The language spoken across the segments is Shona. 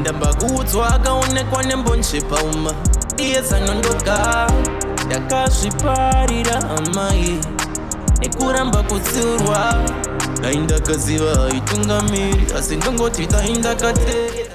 ndamba kuudzwa akaonekwa nembonje pauma iye zanondoka ndakazviparira amai nekuramba kutsiurwa dai ndakaziva haitungamiri asi ndongoti dai ndakateera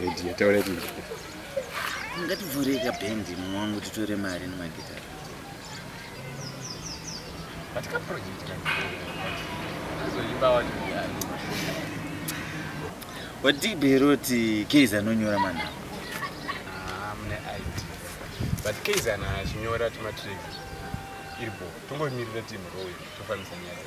Edie, taura kuti ngativhure ka band mumwe wangu titore mari nemagitari. But ka project ka azoimba wani mudhara. Wati Beroti Keiza anonyora manhamba. Ah, mune ID. But Keiza ana achinyora tuma tracks. Iripo. Tongomirira team roll tofanisa nyaya.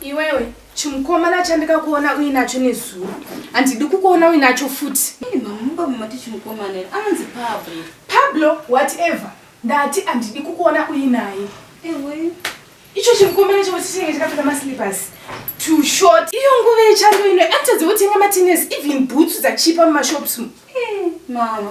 Iwewe chimukomana chandikakuona uinacho nezuro handidi kukuona uinacho futi. Mamubamumati chimukomana anonzi Pablo. Pablo whatever ndati handidi kukuona uinaye. Ewe icho chimukomana chavo chichinge chakapfeka maslippers to short iyo nguva yechando ino atadze kutenga matines even bhutsu dzachipa mumashops mu eh, mama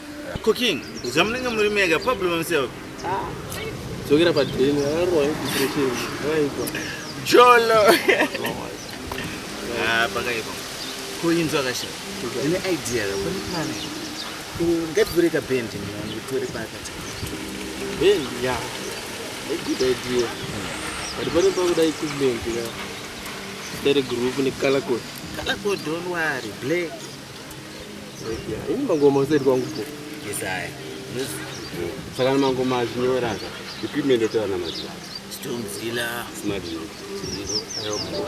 Cooking. Zvamunenge muri mega problem himself. Ah. Dzokera pa den. Arwa infiltration. Raipo. Jolo. Ah, pakaipa. Kuinzwa kashi. Ndine idea la kuni kana. Ngativhure ka band ni ngitore pakati. Band ya. A good idea. But pane pakuda equipment ya. Dere group ni color code. Color code don't worry. Black. Ini mangoma usati kwangu po. Yesaya. Saka mangoma azvinyora ka. Equipment yotaura na mazuva. Storm zilla. Smart zilla. Ayo po.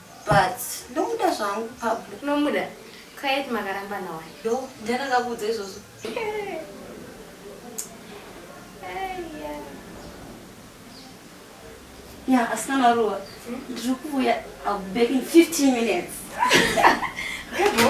But ndomuda zvangu Pablo. Unomuda? Quiet makaramba nawa. Yo, ndiani akakuudza izvozvo? Ya, asina maruwa. Hmm? Ndiri kuuya, I'll be back in 15 minutes. Hebo.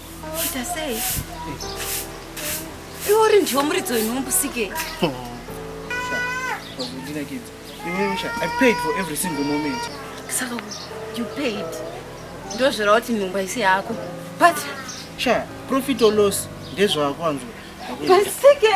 Ita sei? Iwe uri ndiwo muridzo inombusike. I paid for every single moment. Saka you paid. Ndozvira kuti nhumba isi yako. But sha profit or loss ndezvako anzwa. Basike.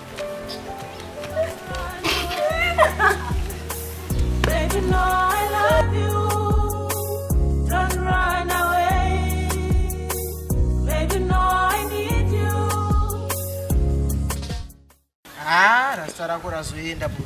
Ah, rasta rako razoenda bro.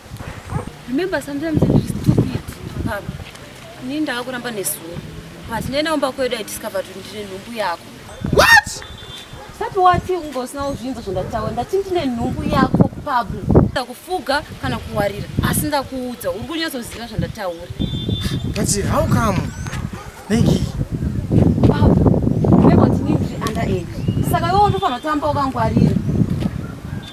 Remember sometimes ndiri stupid baba. Ini ndava kuramba nezuva. But nena umba kwedu I discovered kuti ndine nhumbu yako. What? Sati wati ungosina uzvinza zvandataura ndati ndine nhumbu yako Pablo. Ndakufuga kana kuwarira asi ndakuudza uri kunyatsoziva zvandataura. But how come? Negi. Pablo, remember kuti ndiri under age. Saka iwe unofanira kutamba wakangwarira.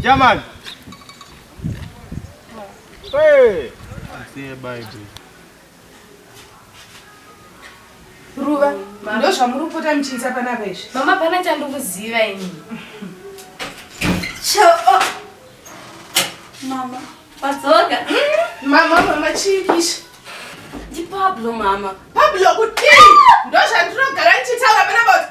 Jamani. Hey. Asiye Bible. Ruva, ndo zvamuri kupota muchiita pana veshe. Mama pana chandikuziva ini. Cho. Oh. Mama, padzoka. Hmm? Mama, mama chiikisha. Ndi Pablo mama. Pablo kuti? Ndo zvandirogara ndichitaura pana baba.